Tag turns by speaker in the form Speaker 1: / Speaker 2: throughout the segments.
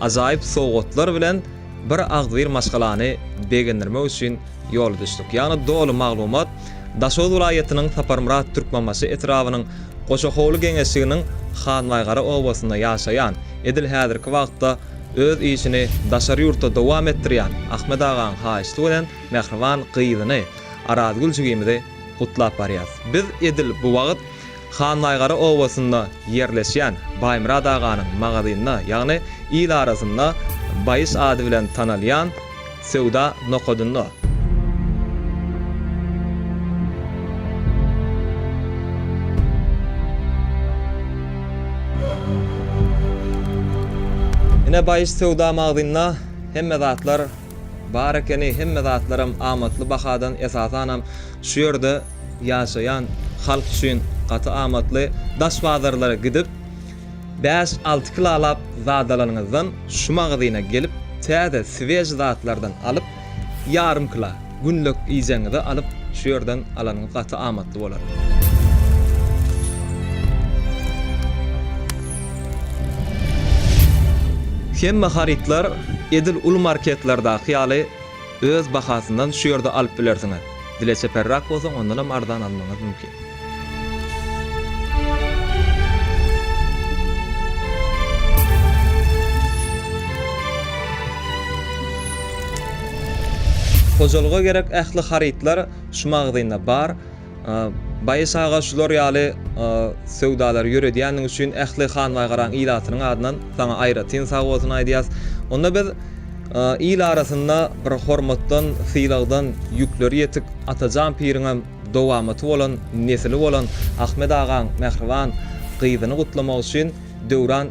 Speaker 1: Ajaýyp sowgatlar bilen bir agzybir maşgalany begendirmek üçin ýola düşdük. Ýagny doly maglumat Daşoguz welaýatynyň Saparmyrat Türkmenbaşy etrabynyň Goçahowly geňeşliginiň Hanbaýgara obasynda ýaşaýan, edil häzirki wagtda öz işini daşary ýurtda dowam etdirýän Ahmet agaň haýyşty bilen mähriban gyzyny Arazgül jigimizi gutlap barýarys. Biz edil bu wagt Hannaýgara obasynda ýerleşýän Baýmyrat aganyň magazynda, ýagny il arasynda Baýyş ady bilen tanalýan söwda nokadynda. Ine Baýyş söwda magazynda hemme zatlar. Bar ekeni hemme zatlaram amatly bahadan esasanam şu ýerde ýaşaýan halk üçin gaty amatly daş bazarlara gidip bäş alty kilalap zat alanyňyzdan şu magazyna gelip täze sweži zatlardan alyp ýarym kila günlük iýjegiňizi alyp şu ýerden alanyňyz gaty amatly bolar. Hemme harytlar edil uly marketlerdaky ýaly öz bahasyndan şu ýerde alyp bilersiňiz. Dile çeperrak bolsaň ondanam arzan almaňyz mümkin. Hojalyga gerek ähli harytlar şu magazynda bar. Baýys aga şular ýaly söwdalary ýöredýändiň üçin ähli Hanbaýgaraň ilatynyň adyndan saňa aýratyn sag bolsun aýdýas. Onda biz il arasynda bir hormatdan, sylagdan ýükleri ýetik Atajan piriňem dowamaty bolan, nesili bolan Ahmet agaň mähriban gyzyny gutlamak üçin Döwran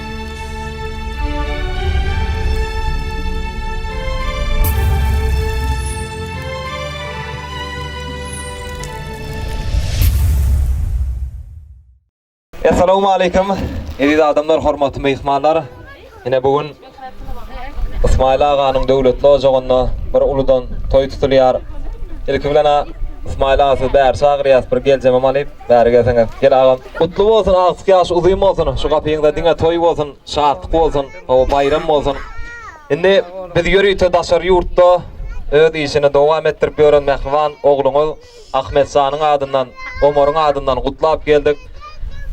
Speaker 1: Essalawmaleýkum. Eziz adamlar, hormatly myhmanlar. Ine bu gün Ysmaýyl aganyň döwletli ojagynda bir uludan toý tutulýar. Ilki bilen-ä Ysmaýyl aga sizi bäri çagyrýas, bir geljemem alyp. Bäri gelseňiz. Gel agam. Gutly bolsun agtyk ýaş uzyn bolsun şu gapyňda diňe toý bolsun şatlyk bolsun hawa baýram bolsun indi biz ýörite daşary ýurtda öz işini dowam etdirip ýören mähriban ogluňyz Ahmetjanyň adyndan Omaryň adyndan gutlap geldik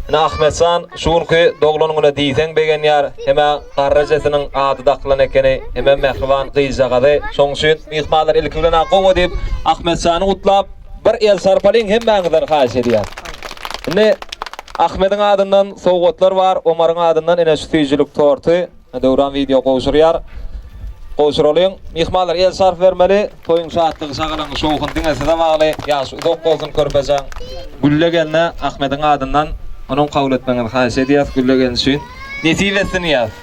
Speaker 1: ine Ahmetjan şu günki doglan güne diýseň begenýär hemä garry ejesiniň ady dakylan ekeni hemem mähriban gyzjagazy şoň üçin myhmanlar ilki bilen-ä gowa diýip Ahmetjany gutlap Bir el çarpalyň hemmäňizden haýyş edýän. Indi Ahmediň adyndan sowgatlar bar, Omaryň adyndan ine şu süýjülik torty Döwran wideo gowşurýar. Gowşuralyň. Myhmanlar el çarp bermeli. Toýuň şatlygy şagalaň şowhun diňe size bagly. Ýaşy uzak bolsun körpejaň. Gülle gelne Ahmediň adyndan onuň kabul etmegiňizi haýyş edýäs Gülle gelin üçin. Nesip etsin diýýäs.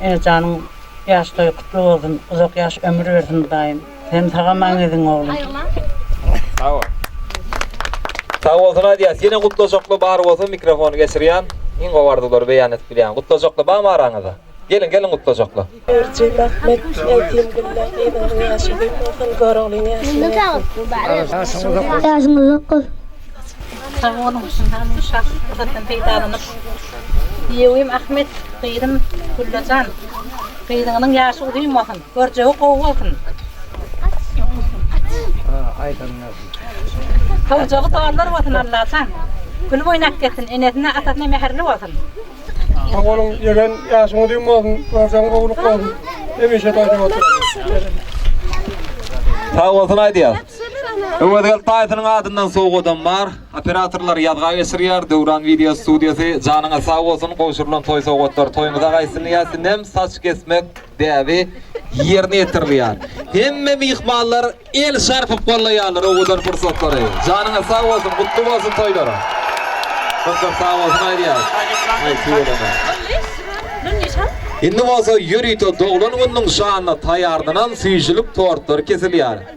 Speaker 2: Janyň ýaş toýy gutly bolsun uzak ýaş ömür bersin hudaýym sen sag aman gezin oglum. Sag
Speaker 1: bol. Sag bolsun aýdýas ýene gutlajakly bar bolsa mikrofony geçirýän iň gowy arzuwlary beýan edip bilýän gutlajakly barmy araňyzda geliň geliň gutlajakly. Berji rahmet
Speaker 3: aýtyn Gülläň gyzyňyzyň ýaşy uzak bolsun Göroglyň ýaşyny
Speaker 2: bersin. Ýaşyň uzak bolsun. Sag boluň, şyndam şah pursatdan peýdalanyp, Diýewim Ahmet, gyzym Güllajan, gyzyňyzyň ýaşy uzyn bolsun, görjegi gowy bolsun, howjagy dollar bolsun Allajan, gül oýnap gezsin, enesine, atasyna mähirli bolsun. Sag boluň,
Speaker 4: ýören ýaşyň uzyn bolsun, görjegiň gowulyk bolsun, hemişe toýda otur.
Speaker 1: Sag bolsun aýdýas. Öwez Geltaýewiň adyndan sowgadam bar. Operatorlar ýazga geçirýär. Döwran Video Studiýasy janyňyz sag bolsun, gowşurylan toý sowgatlar toýuňyza gaýtsyn ýasinnem saç kesmek däbi ýerine ýetirilýär. Hemme myhmanlar el çarpyp gollaýarlar owadan pursatlary. Janyňyz sag bolsun, gutly bolsun toýlaryň. Köp köp sag bolsun aýdýarys. Indi bolsa ýörite doglan gününiň şanyna taýýarlanan süýjülik tortlary kesilýär.